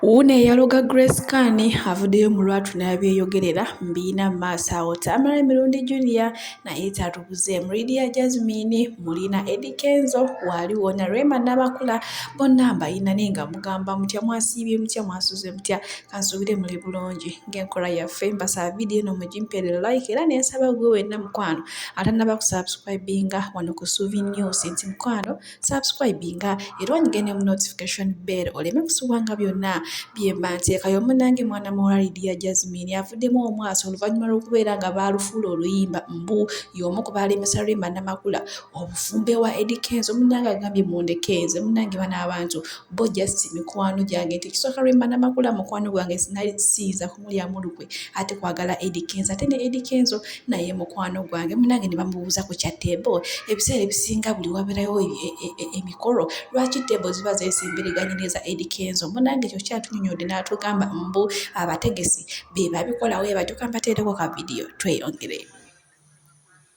Wuuno eyaloga Grace Khan avuddeyo mu lwatu n'abyeyogerera mu biyina mu maaso awo Tamale Mirundi Junior naye tatubuzeemu Lydia Jazmine mulina Eddy Kenzo waali wona Rema Namakula bonna mbayina naye nga mugamba mutya mwasiibye mutya mwasuze mutya kansuubire muli bulungi ng'enkola yaffe mbasaba vidiyo eno mugimpere like era nensaba gwe wenna mukwano atanaba kusubscribinga wano ku Suvi News nti mukwano subscribinga era onyige ne mu notification bell oleme kusubwanga byonna byemba nteekayo munange mwana muwala lidia jasmine avuddemu omwasi oluvannyuma lw'okubeera nga baalufuula oluyimba mbu y'omu ku baalemesa rema namakula obufumbe wa edikenzo munange agambye mundekenze munange bana abantu bo just mikwano gyange nti ekisooka rema namakula mukwano gwange sinali siyinza mulyamu lukwe ate kwagala Eddy Kenzo ate ne Eddy Kenzo naye mukwano gwange munange ne bamubuuza ku kya teebo ebiseera ebisinga buli wabeerayo e, e, e, emikolo lwaki teebo ziba zeesembereganye n'eza Eddy Kenzo munange ekyo kyatunyonyodde n'atugamba mbu abategesi be babikolawo ebatyo kambateereko ka vidiyo tweyongere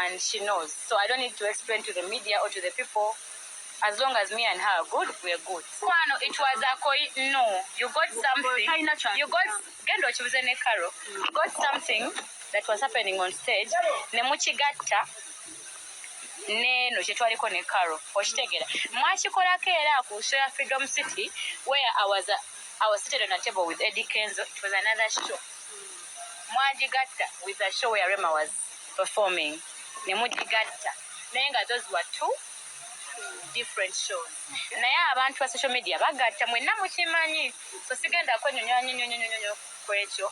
and she knows so I don't need to explain to the media or to the people as long as me and her are good we are good kwano it was a koi no you got something you got genda okibuze ne Caro you got something that was happening on stage ne mukigatta neno kyetwaliko ne Caro okitegera mwakikolako era ku show ya Freedom City where I was a, I was sitting on a table with Eddie Kenzo it was another show mwagigatta with a show where Rema was performing ne mugigatta naye nga those were two different shows naye abantu ba social media bagatta mwenna mukimanyi so sigenda kwenyonyonyonyonyonyo kwekyo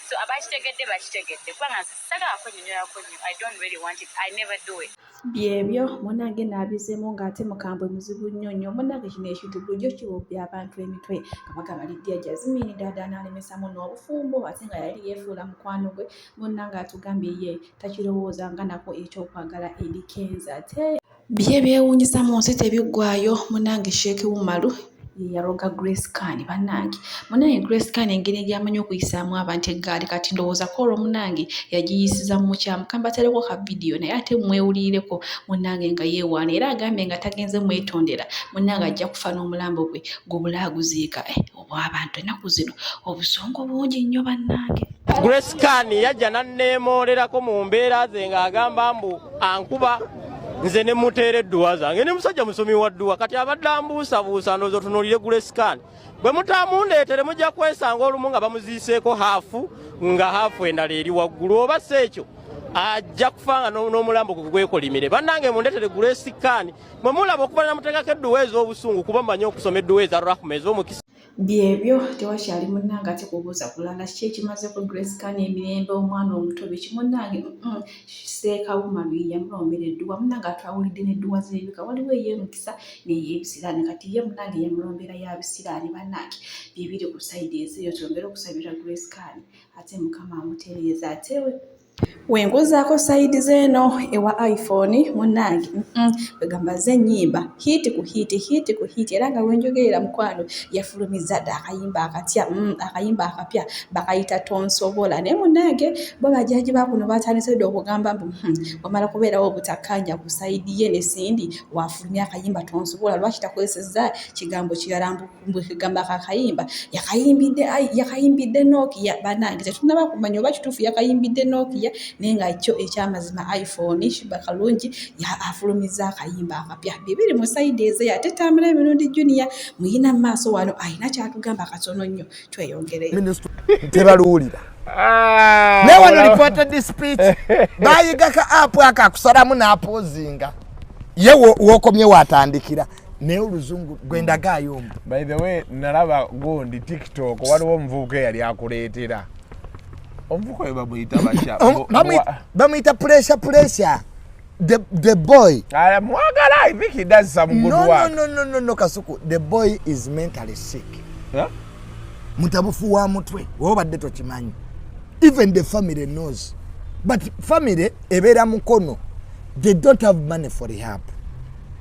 so abakitegedde bakitegedde kubanga sagala kwenyonyolako nyo i don't really want it i never do it byebyo munange nabizemu nga ate mukambwe muzibu nnyo nnyo munange kino ekintu bulijjo kiwubbi abantu emitwe kabaka balidya jazimini dada nalemesamu n'obufumbo ate nga yali yefuula mukwano gwe munnange atugambye ye takirowooza nga nako ekyokwagala eri kenza ate bye byewuunyisa mu nsi tebiggwayo munnange sheeki wumalu yeyaloga grace can banange munange grace can engeri egyamanyi okuyisaamu abantu eggaali kati ndowoozako olwo munange yagiyisiza mu mukyamu kambataleko ka vidiyo naye ate mwewuliireko munange nga yeewaana era agambye nga tagenze mwetondera munange ajja kufa n'omulambo gwe gubulaaguziika eh, obw'abantu ennaku zino obusongo bungi nnyo bannange grace kan yajja nanneemoolerako mu mbeera ze ng'agamba mbu ankuba nze ne muteera edduwa zange ne musajja musomi wa dduwa kati abadde ambuusabuusa ndoozi otunuulire grace kan bwe mutaamundeetere mujja kwesanga olumu nga bamuziiseeko haafu nga haafu endala eri waggulu oba si ekyo ajja kufanga n'omulambo gwe gwekolimire bannange mundetere grace kan mwe mulaba okuba namuteekako edduwa ez'obusungu kuba mmanyi okusoma edduwa eza rahma ez'omukisa byebyo tewakyali munnange ate kubuuza kulala kiki ekimaze ku grace kan emirembe omwana omuto biki munnange seekawuma lwiya mulombera edduwa munnange atwawulidde n'edduwa z'ebika waliwo ey'emukisa n'ey'ebisiraani kati ye munnange yamulombera ya bisiraani bannange byebiri ku sayidi ezeeyo twongere okusabira grace kan ate mukama amutereeza atewe Wenkuzaako side zeno ewa iPhone munange kwegamba ze nyimba hit ku hit hit ku hit era nga wenjogerera mukwano yafulumiza da akayimba akatya mm, akayimba akapya bakayita tonsobola naye munange bo bajaji bakuno batandise dda okugamba mbu hmm, wamala kubeerawo obutakanya ku side ye ne Cindy wafulumya akayimba tonsobola lwaki takozeseza kigambo kirala mbu bwekegamba kakayimba yakayimbidde yakayimbidde nokia banange tetunaba kumanya oba kituufu yakayimbidde nokia naye nga kyo ekyamazima iphone shiba kalungi afulumizza akayimba akapya bibiri mu saidi eze ate tambula emirundi junia muyina mu maaso wano alina kyatugamba katono nnyo tweyongere tebaluwulira ah, naye wano reported speech bayiga ka apu ako akusalamu n'apozinga ye wokomye watandikira naye oluzungu gwendagaayo mbu by the way nalaba gundi tiktok waliwo omuvubuka eyali akuleetera omuvubuka oyo bamuyita bamuyita puresha puresha the the boy ah, mwagala i think he does some good no, work no no no no kasuku the boy is mentally sick huh? mutabufu wa mutwe wobadde tokimanyi even the family knows but family ebeera mukono they don't have money for rehab